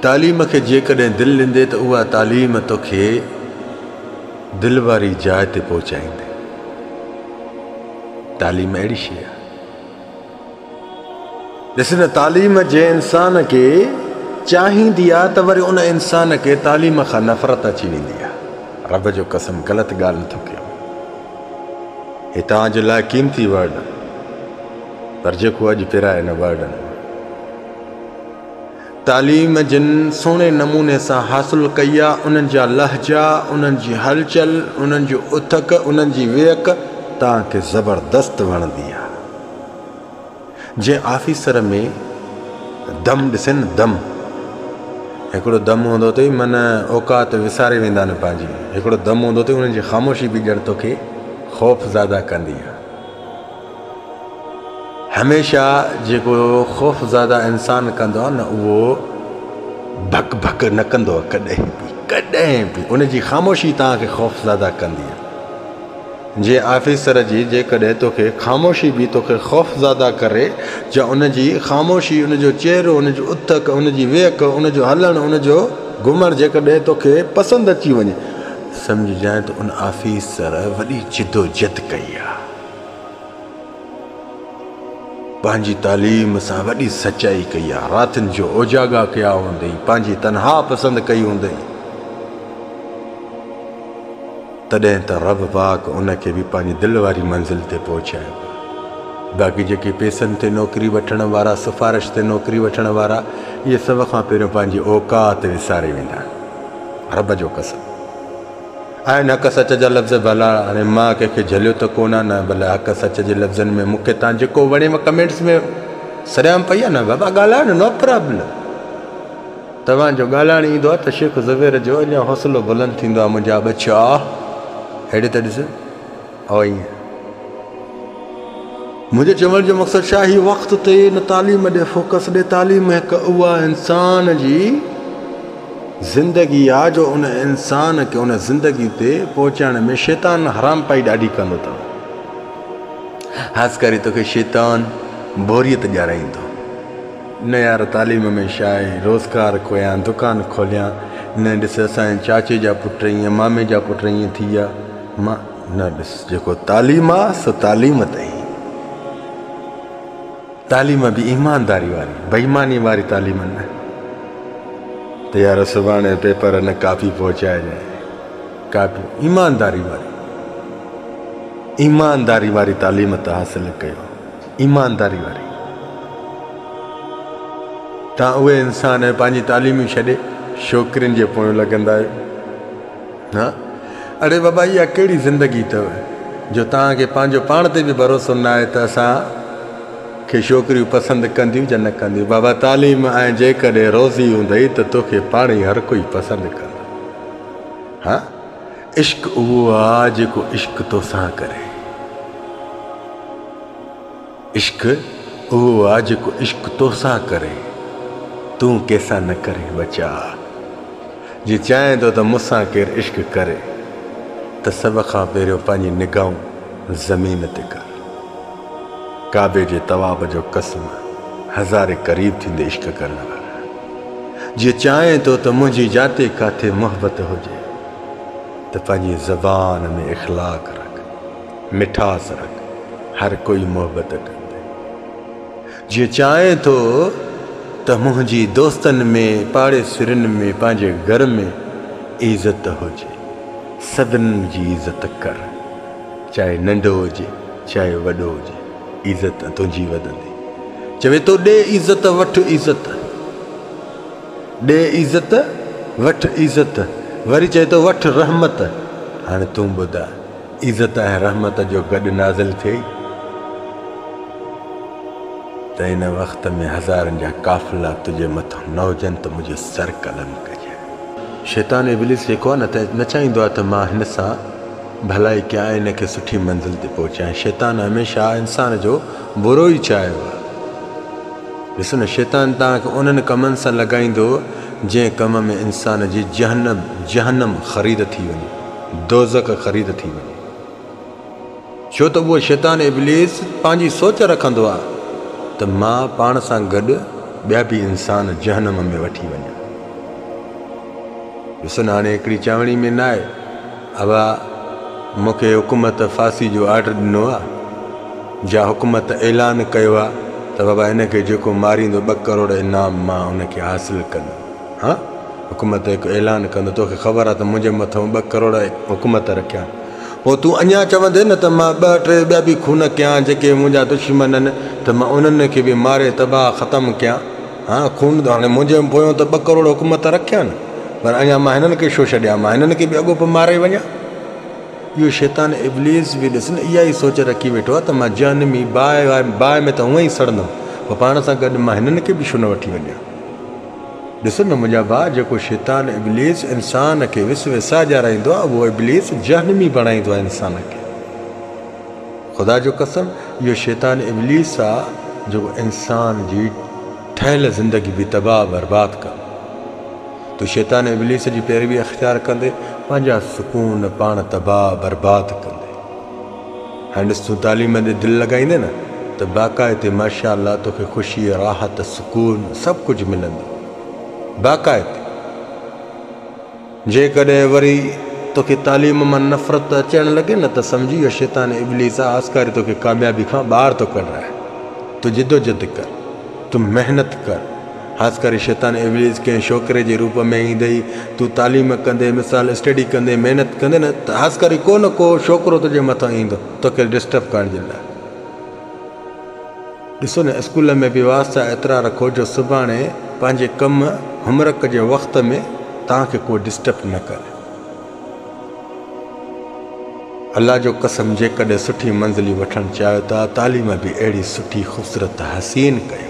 تعليم کي جيڪڏهن دل ڏيندي ته اها تعليم توکي دل واري جاء تي پهچائيندي. تعليم اهڙي شيء آهي. ڏس نه تعليم جنهن انسان کي چاهيندي آهي ته وري ان انسان کي تعليم کان نفرت اچي ويندي آهي. رب جو قسم غلط ڳالهه نه ٿو ڪيان. هي توهان جي لاء قيمتي ورڊ پر جيڪو اڄ پرائي نه ورڊن تعليم جن سهڻي نموني سان حاصل ڪئي آ، انهن جا لهجا، انهن جي هلچل، انهن جو اٿڪ، انهن جي ويڪ توهان کي زبردست وڻندي آ. جنهن آفيسر ۾ دم ڏسين نه دم. هڪڙو دم هوندو اٿئي من اوقات وساري ويندا نه پنهنجي. هڪڙو دم هوندو اٿئي انهن جي خاموشي به ڄڻ توکي خوفزاده ڪندي آ. هميشه جيڪو خوفزاده انسان ڪندو آهي نه اهو ڀڪ ڀڪ نه ڪندو آهي ڪڏهن به ڪڏهن به ان جي خاموشي توهان کي خوفزاده ڪندي جي آفيسر جي جيڪڏهن توکي خاموشي به توکي خوفزاده ڪري جا ان جي خاموشي ان جو چهرو ان جو اٿڪ ان جي ويک ان جو هلڻ ان جو گهمڻ جيڪڏهن توکي پسند اچي وڃي سمجهجانء ته ان آفيسر وڏي جدوجهد ڪئي آهي پنهنجي تعليم سان وڏي سچائي ڪئي آ. راتين جو اوجاڳا ڪيا هوندئي، پنهنجي تنها پسند ڪئي هوندئي. تڏهن ته رب پاڪ ان کي به پنهنجي دل واري منزل تي پهچايو آ. باقي جيڪي پيسن تي نوڪري وٺڻ وارا، سفارش تي نوڪري وٺڻ وارا، اهي سڀ کان پهريون پنهنجي اوقات وساري ويندا آهن. رب جو قسم! آهن حق سچ جا لفظ ڀلا هاڻي مان ڪنهن کي جهليو ته ڪونه نه بل حق سچ جي لفظن ۾ مون کي تان جيڪو وڻي مان ڪمينٽس ۾ سريام پئي آ نه بابا ڳالهايو نه نو پرابلم توهان جو ڳالهائڻ ايندو آ ته شيخ زبير جو اڃا حوصلو بلند ٿيندو آ منهنجا ٻچا اهڙي ته ڏس اهو ائين آهي. منهنجي چوڻ جو مقصد شاهي هي وقت تي نه تعليم ڏي فوڪس ڏي تعليم هڪ اها انسان جي زندگي آ جو ان انسان کي ان زندگي تي پهچائڻ ۾ شيطان حرامپائي ڏاڍي ڪندو اٿو خاص ڪري توکي شيطان بوريت ڄارائيندو نه يار تعليم ۾ شاهي روزگار کويان دڪان کوليان نه ڏس اسان چاچي جا پٽ ائين مامي جا پٽ ائين ٿي ويا مان نه ڏس جيڪو تعليم آ سو تعليم ته هي تعليم به ايمانداري واري بيماني واري تعليم نه ته يار سڀاڻي پيپر نه ڪاپي پهچائي جائي ڪاپي ايمانداري واري ايمانداري واري تعليم ته حاصل ڪيو ايمانداري واري تان اهي انسان پنهنجي تعليمي ڇڏي شوڪرين جي پويون لڳندا آهيو ها اڙي بابا اها ڪهڙي زندگي اٿو جو توهان کي پنهنجو پاڻ تي به ڀروسو نه آهي ته اسان کي ڇوڪريون پسند ڪنديون جا نه ڪنديون بابا تعليم ۽ جيڪڏهن روزي هوندئي ته توکي پاڻ ئي هر ڪوئي پسند ڪندو ها عشق اهو آ جيڪو عشق توسان ڪري. عشق اهو آ جيڪو عشق توسان ڪري تون ڪيسان نه ڪرين ٻچا جي چاهين ٿو ته مونسان ڪير عشق ڪري ته سڀ کان پهريون پنهنجي نگاهون زمين تي ڪر ڪعبي جي طواف جو قسم هزاري قريب ٿيندي عشق ڪرڻ ور جي چاهين ٿو ته منهنجي جاتي ڪاٿي محبت هجي ته پنهنجي زبان ۾ اخلاق رک مٺاس رک هر ڪوئي محبت ڪندي جيئن چاهين ٿو ته منهنجي دوستن ۾ پاڙيسرين ۾ پنهنجي گهر ۾ عزت هجي سڀنن جي عزت ڪر چاهي ننڍو هجي چاهي وڏو هجي عزت تنهنجي وڌندي چوي ٿو ڏي عزت وٺ عزت ڏي عزت وٺ عزت وري چوي ٿو وٺ رحمت هاڻي تون ٻڌاء عزت ۽ رحمت جو گڏ نازل ٿئي ته ان وقت ۾ هزارن جا قافلا تنهنجي مٿان نه هجن ته منهنجي سر قلم ڪجي. شيطان ابليس جيڪو آهي نه نه چاهيندو آهي ته مان هن سان ڀلائي ڪيان ۽ هن کي سٺي منزل تي پهچايان. شيطان هميشه انسان جو برو ئي چاهيو آهي. ڏسو نه شيطان توهان کي انهن ڪمن سان لڳائيندو جنهن ڪم ۾ انسان جي جهنم جهنم خريد ٿي وڃي. دوزخ خريد ٿي وڃي ڇو ته اهو شيطان ابليس پنهنجي سوچ رکندو آ ته مان پاڻ سان گڏ ٻيا به انسان جهنم ۾ وٺي وڃان. ڏسن هاڻي هڪڙي چوڻي ۾ ناهي ابا مون کي حڪومت ڦاسي جو آرڊر ڏنو آ جا حڪومت اعلان ڪيو آ ته بابا هن کي جيڪو ماريندو ٻه ڪروڙ انعام مان هن کي حاصل ڪندو. ها حڪومت هڪ اعلان ڪندو توکي خبر آ ته منهنجي مٿئون ٻه ڪروڙ حڪومت رکيا پوء تون اڃا چوندين نه ته مان ٻه ٽي ٻيا به خون ڪيان جيڪي منهنجا دشمن آهن ته مان انهن کي به ماري تباهه ختم ڪيان ها خون هاڻي منهنجي پويون ته ٻه ڪروڙ حڪومت رکيا نه پر اڃا مان هنن کي شو ڇڏيان مان هنن کي به اڳو پوء ماري وڃان اهو شيطان ابليس به ڏس نه اها ئي سوچ رکي ويٺو آ ته مان جهنمي باهه ۾ ته هونئن ئي سڙندم پوء پاڻ سان گڏ مان هنن کي به شو نه وٺي وڃان. ڏس نه منهنجا ڀاء، جيڪو شيطان ابليس انسان کي وس وساء ڏيارائيندو آهي، اهو ابليس جهنمي بڻائيندو آهي انسان کي. خدا جو قسم، اهو شيطان ابليس آهي، جيڪو انسان جي ٺهيل زندگي به تباهه برباد ڪندو. تون شيطان ابليس جي پيروي اختيار ڪندي، پنهنجا سڪون پاڻ تباهه برباد ڪندي. هينس تون تعليم ڏي دل لڳائيندين نه ته باقاعدي ماشاء الله توکي خوشي راحت سڪون سڀ ڪجهه ملندو باقاعدي جيڪڏهن وري توکي تعليم مان نفرت اچڻ لڳي نه ته سمجهي اهو شيطان ابليس آ آسڪاري توکي ڪاميابي کان ٻاهر ٿو ڪڍرائي تو جدوجد ڪر تو محنت ڪر خاص ڪري شيطان ابليس ڪنهن شوڪري جي روپ ۾ ايندي ئي تون تعليم ڪندين مثال اسٽڊي ڪندين محنت ڪندين نه ته خاص ڪري ڪو نه ڪو شوڪرو تنهنجي مٿان ايندو توکي ڊسٽرب ڪرڻ جي لاء ڏسو نه اسڪول ۾ به واسطا ايترا رکو جو سڀاڻي پنهنجي ڪم هومرڪ جي وقت ۾ توهان کي ڪو ڊسٽرب نه ڪري. الله جو قسم جيڪڏهن سٺي منزلي وٺڻ چاهيو ته تعليم به اهڙي سٺي خوبصورت حسين ڪيو.